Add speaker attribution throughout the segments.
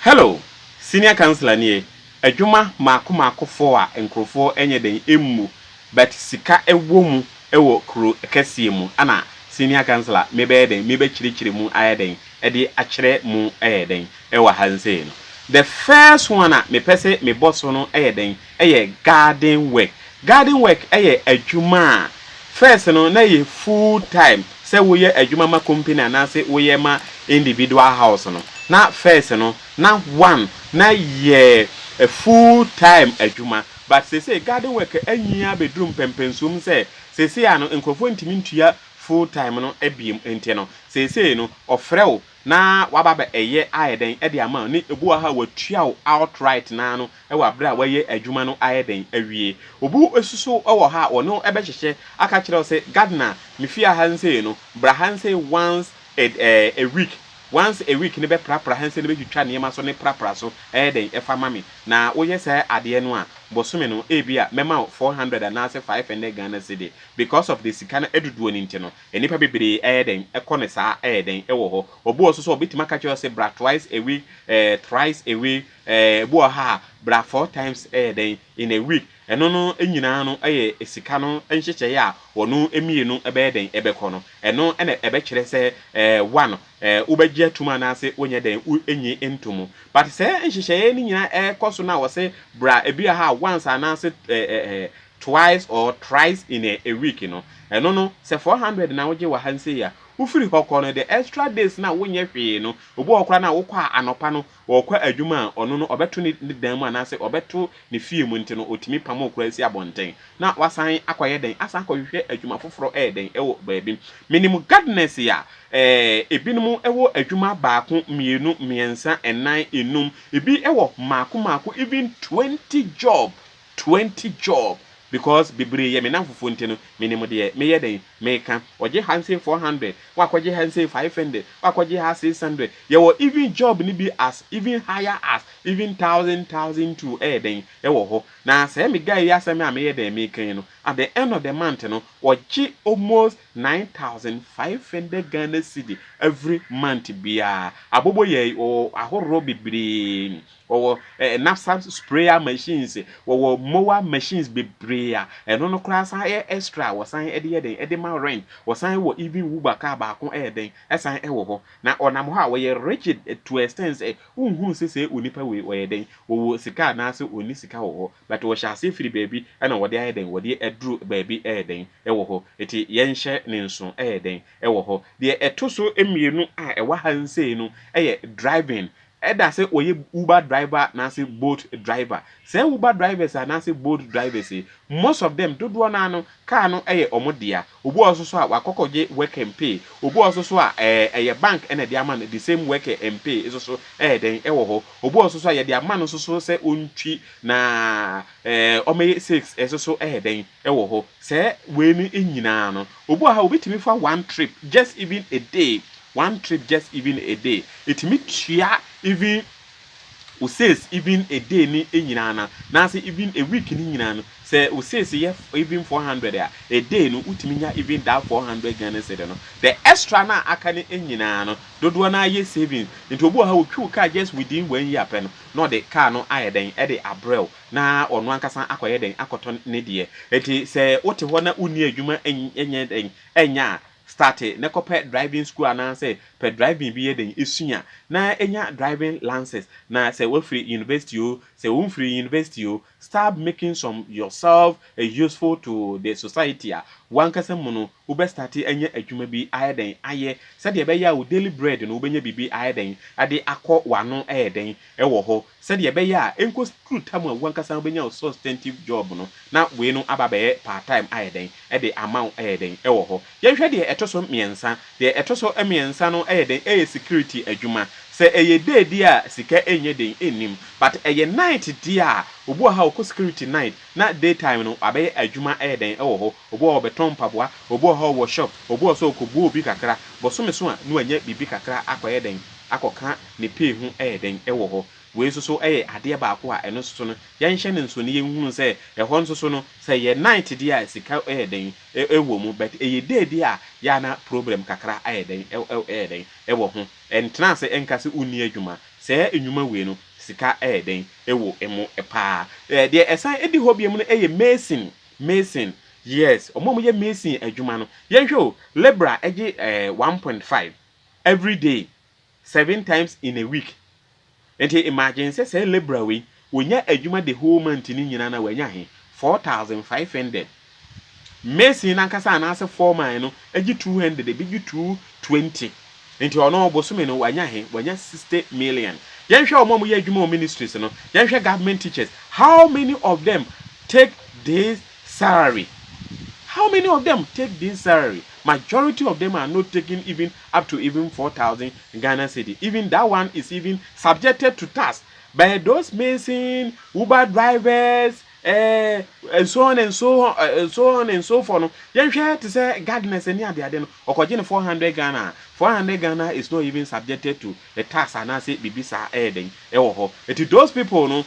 Speaker 1: Hello! Senior councillor nie, adwuma maako maako foɔ a nkorɔfoɔ nyɛ dɛn mmu but sika wɔ mu wɔ kuro kɛseɛ mu ana senior councillor mebɛyɛ dɛn mebɛkyerɛkyerɛ mu ayɛ dɛn de akyerɛ mu yɛ dɛn ɛwɔ ha nsei no the first one a mepɛ se mebɔ so no yɛ dɛn yɛ garden work garden work yɛ adwuma a first no na ɛyɛ full time sɛ woyɛ adwuma ma company anaase woyɛ ma individual house no na first no na one na yɛ full time adwuma but sesei garden work anyin abɛduru mpɛmpɛnsuom sɛ sesei a no nkurɔfoɔ ntumi ntua full time no biem nti no sesei no ɔfrɛ wo Na waba abɛ ɛyɛ ayɛ dɛn ɛde ama wo ne obi wɔ ha a watua wo out right naa no ɛwɔ abere a wayɛ adwuma no ayɛ dɛn awie. Obi asusu ɛwɔ ha a ɔne wo ɛbɛ hyehyɛ aka kyerɛ wo sɛ Gardner me fie aha nsei no bra ha nsei once a a week once a week no bɛ pra pra ha nsei no bɛ twitwa nneɛma so ne pra pra so ɛyɛ dɛn ɛfa ma me na woyɛ saa adeɛ no a bosome no ebia mɛma wo four hundred anaasɛ five hundred Ghana cedi because of the sika no ɛdodoɔ no nti no Nnipa bebree ɛyɛ dɛn? Ɛkɔ no saa ɛyɛ dɛn? Ɛwɔ hɔ. Obi wɔ so sɛ ɔbɛtumi aka kyerɛ wo sɛ bra twice a week, eh, thrice a week, eh, ebi wɔ ha a bra four times ɛyɛ dɛn? In a week. Ɛno no nyinaa no ɛyɛ sika no nhyehyɛeɛ a wɔn mmienu ɛbɛyɛ dɛn? Ɛbɛkɔ no. Ɛno na ɛbɛkyerɛ sɛ, eh, one, eh, wobɛgye atom anaasɛ wonyɛ dɛn? Wonnye ntomu. But sɛ nhyehyɛeɛ no nyinaa ɛkɔ so no a wɔse bra ebi wɔ ha a once anaasɛ, eh, eh, eh, twice or thrice in a a week no, ɛno no sɛ four hundred na wogye wɔ ha nsei a, wofiri hɔ kɔ no the extra days no a wonyɛ hwee no, obi wɔ hɔ koraa no a wokɔ a anɔpa no ɔɔkɔ adwuma a ɔno no ɔbɛto ne ne dan mu anaasɛ ɔbɛto ne fie mu nti no otumi pam wo koraa si abɔnten na wasan akɔyɛ dɛn asan akɔhwehwɛ adwuma foforɔ ɛyɛ dɛn ɛwɔ baabi. Menim gardeners a ɛɛ ebinom ɛwɔ adwuma baako, mmienu, mmiɛnsa, nnan, nnum, ebi ɛwɔ mmaako mmaako even twenty job. Twenty job because bebree yɛ me namfofoɔ nti no menim deɛ meyɛ dɛn meka ɔgye ha nsei four hundred woakɔgye ha nsei five hundred woakɔgye ha six hundred yɛwɔ even job no bi as even higher as even thousand thousand two ɛyɛ dɛn ɛwɔ hɔ na sɛɛ me guy yi asɛm a meyɛ dɛn meka yi no at the end of the month no ɔgye almost nine thousand five hundred Ghana cedi every month biara abobo yɛi wɔwɔ ahorroɔ bebree Wɔwɔ eh, napsa sprayer machines, wɔwɔ mower machines bebree a ɛno no koraa san yɛ extra a wɔsan de yɛ dɛn de ma rent. Wɔsan wɔ even Uber car baako ɛyɛ dɛn ɛsan ɛwɔ hɔ. Na ɔnam hɔ a ɔyɛ rigid to a extent sɛ wonhunu sɛ sɛ onipa wei ɔyɛ dɛn ɔwɔ sika anaasɛ ɔnni sika wɔ hɔ but ɔhyɛ aseɛ firi baabi ɛna wɔde ayɛ dɛn wɔde aduru baabi ɛyɛ dɛn ɛwɔ hɔ. Ɛti yɛnhyɛ ne nso ɛyɛ dɛn ɛwɔ hɔ. Deɛ ɛto so mmienu a ɛwɔ ha nsei no ɛyɛ driving Ɛda sɛ ɔyɛ Uber driver anaasɛ Bolt driver. Saa Uber drivers anaasɛ Bolt drivers yi, most of them, dodoɔ no ara no, car no yɛ wɔn dea. Obi wɔ hɔ nso so a, wakɔ kɔgye work and pay. Obi wɔ hɔ nso so a, ɛɛ, ɛyɛ bank na ɛde ama no, the same work and pay nso so yɛ dɛn, ɛwɔ hɔ. Obi wɔ hɔ nso so a, yɛde ama no nso so sɛ ɔntwi na, ɛɛ, wɔmmɛyɛ sales nso so yɛ dɛn. wɔ hɔ sɛ wei no nyinaa no obi wɔ ha obetumi fa one trip just even a day one trip just even a day etumi tua even wo sales even a day ne nyinaa na naase even a week ne nyinaa no sɛ wo sales yɛ even four hundred a a day no wotumi nya even that four hundred Ghana cedi no the extra na aka ne nyinaa no dodoɔ na ayɛ savings nti obi wɔ ha otwi wo car just within one year pɛ no na ɔde car no ayɛ dɛn ɛde abrɛw na ɔno ankasa akɔyɛ dɛn? Akɔtɔ ne deɛ. Enti sɛ wote hɔ na wonni adwuma nyɛ dɛn nyɛ a, starte na kɔpɛ driving school anaasɛ pɛ driving bi yɛ dɛn sua na nya driving lances na sɛ woafiri university o, sɛ womfirii university o, start making some yourself useful to the society a w'ankasa mu no Wobɛ starte anya adwuma bi ayɛ dɛn ayɛ sɛdeɛ ɛbɛyɛ a wo daily bread no wobɛnya biribi ayɛ dɛn de akɔ w'ano ɛyɛ dɛn ɛwɔ hɔ sɛdeɛ ɛbɛyɛ a ɛnkɔ duru tam a w'ankasa wobɛnya wo substantive job no na wei no aba abɛyɛ part time ayɛ dɛn de ama wo ɛyɛ dɛn ɛwɔ hɔ. Yɛnhwɛ deɛ ɛto so mmiɛnsa, deɛ ɛto so mmiɛnsa no ɛyɛ dɛn ɛyɛ security adwuma, sɛ ɛyɛ day deɛ a sika ɛnyɛ den ɛnnim but ɛyɛ night deɛ a obi wɔ ha ɔkɔ security night na day time no wabɛyɛ adwuma ɛyɛ dɛn ɛwɔ hɔ, Obi wɔ hɔ ɔbɛtɔn mpaboa, obi wɔ hɔ ɔwɔ shop, obi wɔ hɔ so ɔkɔbuu obi kakra, bosome so a na wanya biribi kakra akɔyɛ dɛn, akɔka ne pay ho yɛ dɛn wɔ hɔ. Wei nso so yɛ adeɛ baako a ɛno nso so no yɛnhyɛ no nsono yɛnhunu sɛ ɛhɔ nso so no sɛ ɛyɛ night deɛ a sika yɛ dɛn wɔ mu but ɛyɛ day deɛ a yɛ a na problem kakra ayɛ dɛn yɛ dɛn wɔ ho. Ɛntena ase nka sɛ wonni adwuma, saa nnwuma wei no sika yɛ dɛn wɔ mu paa. Deɛ ɛsan di hɔ bio no yɛ mason Mason, Yes, wɔn a wɔyɛ mason adwuma no, yɛnhwɛ o, labourer gye eh, one point five every day, seven times in a week. Nti imagine sɛ saa labourer wei, ɔnya adwuma the whole month no nyinaa na wanya he, four thousand five hundred. Mason no ankasa anaasɛ foreman no gye two hundred, ebi gye two twenty. Nti ɔno bosome no wanya he? Wanya sixty million. Yɛnhwɛ wɔn a wɔyɛ adwuma wɔ ministries no, yɛnhwɛ government teachers, how many of them take this salary? How many of them take this salary? Majority of them are not taking even up to even four thousand Ghana cedi, even that one is even subjected to tax by those mason, uber drivers, Ɛɛ, so on and so on, ɛɛ, so on and so forth no, yɛnhwɛ te sɛ gardeners ne adeade no, ɔkɔgye no 400 Ghana a, 400 Ghana is not even subjected to a tax anaasɛ biribi saa ɛyɛ dɛn, ɛwɔ hɔ. Nti those people no,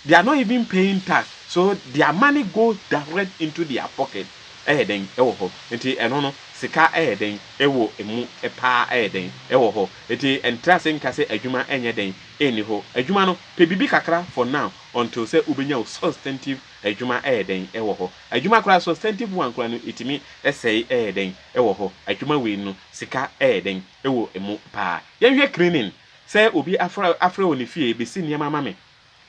Speaker 1: they are not even paying tax, so their money goes direct into their pocket, ɛyɛ dɛn, ɛwɔ hɔ. Nti ɛno no, sika ɛyɛ dɛn, ɛwɔ mu paa ɛyɛ dɛn, ɛwɔ hɔ. Nti ntra ase nka sɛ adwuma ɛnyɛ dɛn, ɛnni hɔ. Adwuma no, pɛ biribi kakra for now. until sɛ wobɛnya wo substantive adwuma ɛyɛ dɛn wɔ hɔ adwuma koraa substantive one koraa no ɛtumi sɛe ɛyɛ dɛn wɔ hɔ adwuma wei no sika ɛyɛ dɛn wɔ mu paa yɛnhwɛ cleaning sɛ obi afra afrɛ wɔ ne fie bɛsi nneɛma ma me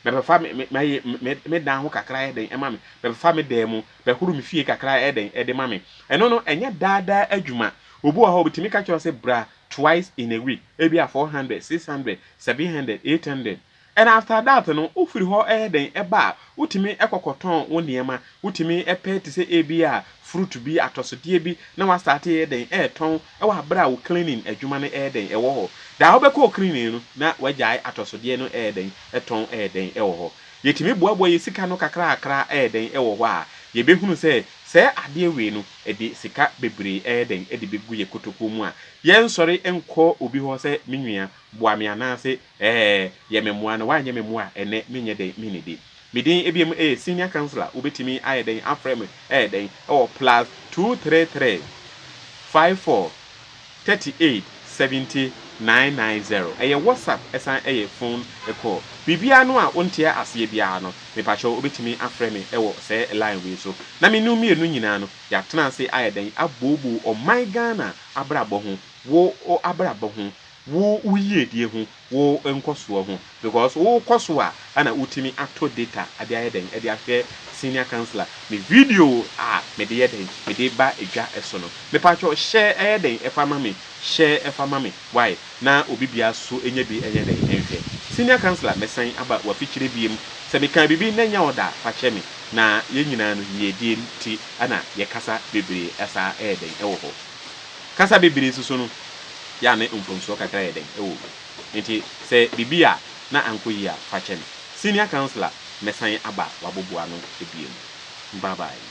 Speaker 1: bɛbɛfa me me mɛyɛ me me dan ho kakra ɛyɛ dɛn ɛma me bɛbɛfa me dan mu bɛhoro me fie kakra ɛyɛ dɛn ɛde ma me ɛno no ɛnyɛ daadaa adwuma obi wɔ hɔ ɔbɛtumi ka kyerɛ sɛ bra twice in a week ebi a 400 600 700 800 And after that no wofiri hɔ yɛ dɛn ba a, wotumi kɔ kɔtɔn wo nneɛma, wotumi pɛ te sɛ ebi a fruit bi, atɔsodeɛ bi na wastarte yɛ dɛn retɔn wɔ aberɛ a wo cleaning adwuma no yɛ dɛn wɔ hɔ. Da a wobɛkɔ wo cleaning no na wagyae atɔsodeɛ no yɛ dɛn tɔn yɛ dɛn wɔ hɔ. Yɛtumi boaboa yɛn sika no kakrakra yɛ dɛn wɔ hɔ a, yɛbɛhunu sɛ sɛɛ adeɛ wei no ɛde sika bebree yɛ dɛn de bɛgu yɛn kotokuo mu a. Yɛnsɔre nkɔ obi hɔ sɛ me nua boa me anaase Ɛɛ, yɛ me mmoa na woanyɛ me mmoa a ɛnnɛ menyɛ dɛn mennidi? Me din ebiem ee, Senior Councillor, wobɛtumi ayɛ dɛn afrɛ me ɛyɛ dɛn wɔ plus two three three five four thirty eight seventy nine nine zero. Ɛyɛ WhatsApp ɛsan ɛyɛ phone call. Biribiara no a wonteɛ aseɛ biara no, mepakyɛw wobɛtumi afrɛ me ɛwɔ sɛɛ line wei so. Na me ne wo mmienu nyinaa no, yɛatena ase ayɛ dɛn abooboo ɔman Ghana abrabɔ ho, wo abrabɔ ho, wo wo yiedie ho, wo nkɔsoɔ ho because wo kɔ so a ɛna wo tumi ato data de ayɛ dɛn de ahwɛ senior councillor me video a me de yɛ dɛn me de ba dwa so no me paatwɔ hyɛ ɛyɛ dɛn ɛfa ma me hyɛ ɛfa ma me wai na obi bia so nyɛ bi nyɛ dɛn nhwɛ senior councillor me san aba wafikyire biem sɛ me kaa biribi na ɛnyɛ ɔda a fa kyɛ me na yɛn nyinaa no yiedie nti ɛna yɛ kasa bebree ɛsaa ɛyɛ dɛn ɛwɔ hɔ. Kasa bebree nso so no, yɛ a ne mfomsoɔ kakra yɛ dɛn wɔ mu. Enti sɛ biribi yɛ a na ankɔ yie a, fa kyɛ no. Senior Councillor mmɛsan aba w'aboboano bio. Bye bye.